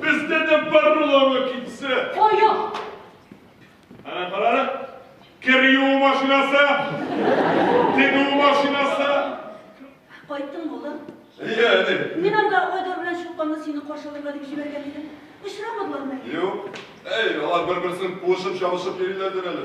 Бездә дә бар буламы китсә? Кая? Ана карары. Кер юу машинасы. Тегү машинасы. Кайттың улым? Иә, әни. Мин анда Айдар белән Чулпанны сине каршыларга дип җибәргән идем. Очрамадылармы? Юк. Әй, алар бер-берсен куышып-чабышып йөриләрдер әле.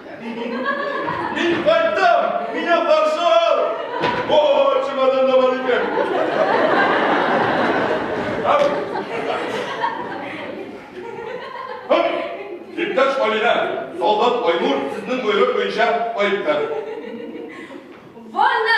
Мин кайттым! Мине каршы ал! О, чемодан да бар икән. Иптәш Алинә, солдат Айнур сезнең боерык буенча кайтты. Ванна!